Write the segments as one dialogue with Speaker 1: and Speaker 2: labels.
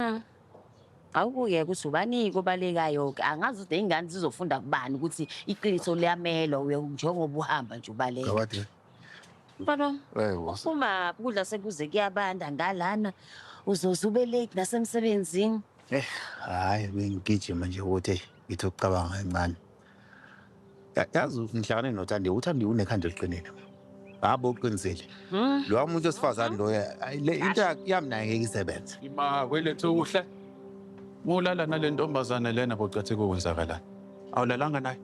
Speaker 1: Mm. Awukuke ukuthi ubani kobalekayo ke angazi ukuthi ingane zizofunda kubani ukuthi iqiniso liyamelwa uye njengoba uhamba nje ubaleka. Gawade.
Speaker 2: Mfana wami,
Speaker 1: Hey, boss. uphuma
Speaker 2: kudla
Speaker 1: sekuze kuyabanda ngalana uzoze ube late nasemsebenzini. Eh, hayi
Speaker 2: bengigijima nje ukuthi ngithi ukucabanga kancane. yazi ngihlangane nothandiwe uthandiwe unekhanda eliqinile ngabo uqinisile hmm? lowa muntu wesifazane loyo le into yami naye ngeke isebenze ima kwelethu
Speaker 3: kuhle mulala nale ntombazane lena bocathe kokwenzakalani awulalanga naye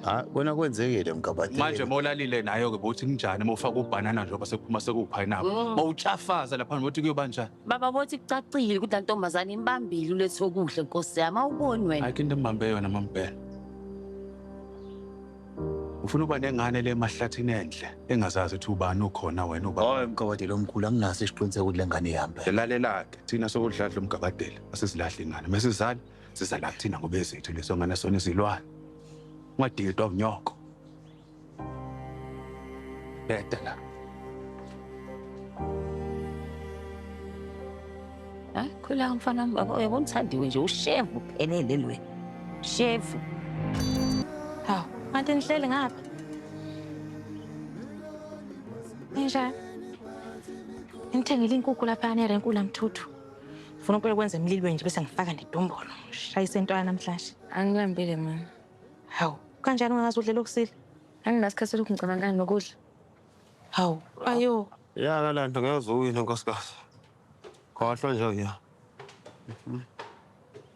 Speaker 3: ha
Speaker 2: kona kwenzekile mgabadeli manje molalile
Speaker 3: nayo ke bothi kunjani mofaka ubhanana njengoba sekuphuma sekuwuphayinaphu mawutshafaza hmm. lapha ngokuthi kuyoba njani Baba bothi kucacile
Speaker 1: ukuthi lantombazane imbambile ulethe okuhle nkosi yami awuboni wena. Ayikho into embambe yona
Speaker 3: mampela. Ufuna uba nengane le emahlathini enhle engazazi ukuthi ubani ukhona wena uba. Hayi mgabadeli omkhulu
Speaker 2: anginaso isiqiniseko ukuthi le ngane ihamba. Lalelake thina
Speaker 3: sokudladla umgabadeli asizilahli ingane mesizala sizala kuthina ngoba ezethu leso ngane sona izilwane. Ungadidwa unyoko. Bheda la.
Speaker 1: Hayi khula umfana wami baba uyabona uthandiwe nje ushevu phelele lwe. Shevu.
Speaker 4: Hawu, kanti nihleli ngapha. Ninjani? Ngithengile inkukhu lapha erenku lamthuthu. Ngifuna ukube kwenza emlilweni nje bese ngifaka nedombolo. Shayise into yanamhlanje. Angilambile mina.
Speaker 5: Hawu,
Speaker 4: kanjani ungazi udlela okusile? Anginasikhathi selokhu
Speaker 5: ngicabangana nokudla. Hawu,
Speaker 4: ayo. Ya kalanda ngeke
Speaker 6: uze uwine nkosikazi. Khohlwa nje uya.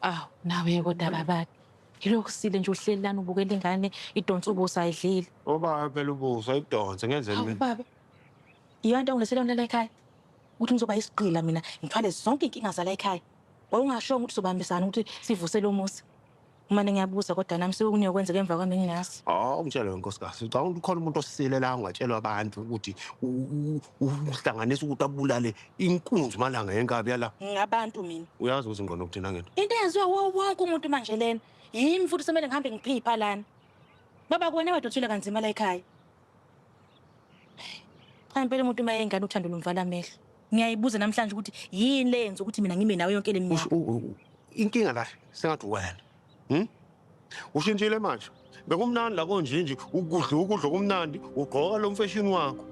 Speaker 4: Awu, nawe kodwa babade. Yilokhu sile nje uhleli lana ubukela ingane idonsa ubuso ayidlile. Ubaba phela ubuso
Speaker 6: ayidonse ngenzeni Hawu mina? baba.
Speaker 4: Yiyo into engilethele yona la ekhaya. Ukuthi ngizoba isigqila mina ngithwale zonke inkinga zala ekhaya. Wawungashongo ukuthi sobambisana ukuthi sivuse lo muzi. Umane ngiyabuza kodwa nami sekukunye okwenzeka emva kwami ngingazi. Hawu oh, ngitshele wenkosikazi,
Speaker 6: ucabanga ukuthi khona umuntu osile la ungatshelwa abantu ukuthi uhlanganisa ukuthi abulale inkunzi malanga yenkabi yala. Ngabantu mina.
Speaker 4: Uyazi ukuthi ngqondo ukuthina
Speaker 6: ngento. Into eyenziwa wonke
Speaker 4: umuntu manje lena. Yimi futhi semele ngihambe ngiphipha lana. Baba kuwena wedwa uthule kanzima la ekhaya. Cha impela umuntu uma yengane uthando lumvala amehlo. Ngiyayibuza namhlanje ukuthi yini le yenza ukuthi mina ngime nawe yonke le minyaka. Inkinga la
Speaker 6: sengathi wena. Hmm? Ushintshile manje. Bekumnandi la konjinji ukudla ukudla okumnandi ugqoka lo mfeshini wakho.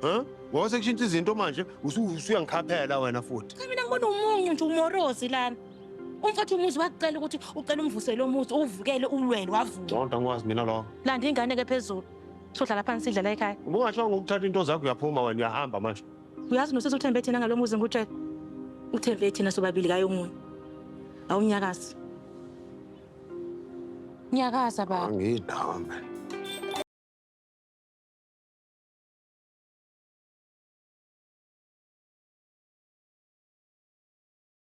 Speaker 6: Huh? Ngoba sekushintsha izinto manje usuyangikhaphela wena futhi. Cha mina ngibona umunyu
Speaker 4: nje umorozi lana. Umfowethu umuzi wakucela ukuthi ucela umvusele umuzi uwuvukele ulwele wavuka. Zonke angikwazi mina lokho.
Speaker 6: Landa ingane ke phezulu.
Speaker 4: Sohlala phansi sidla la ekhaya. Ubungasho ngokuthatha into
Speaker 6: zakho uyaphuma wena uyahamba manje. Uyazi nosisi uthembe
Speaker 4: thina ngalo muzi ngikutshela. Uthembe thina sobabili kayo omunye. Awunyakazi. Nyakaza baba. Angidawo mina.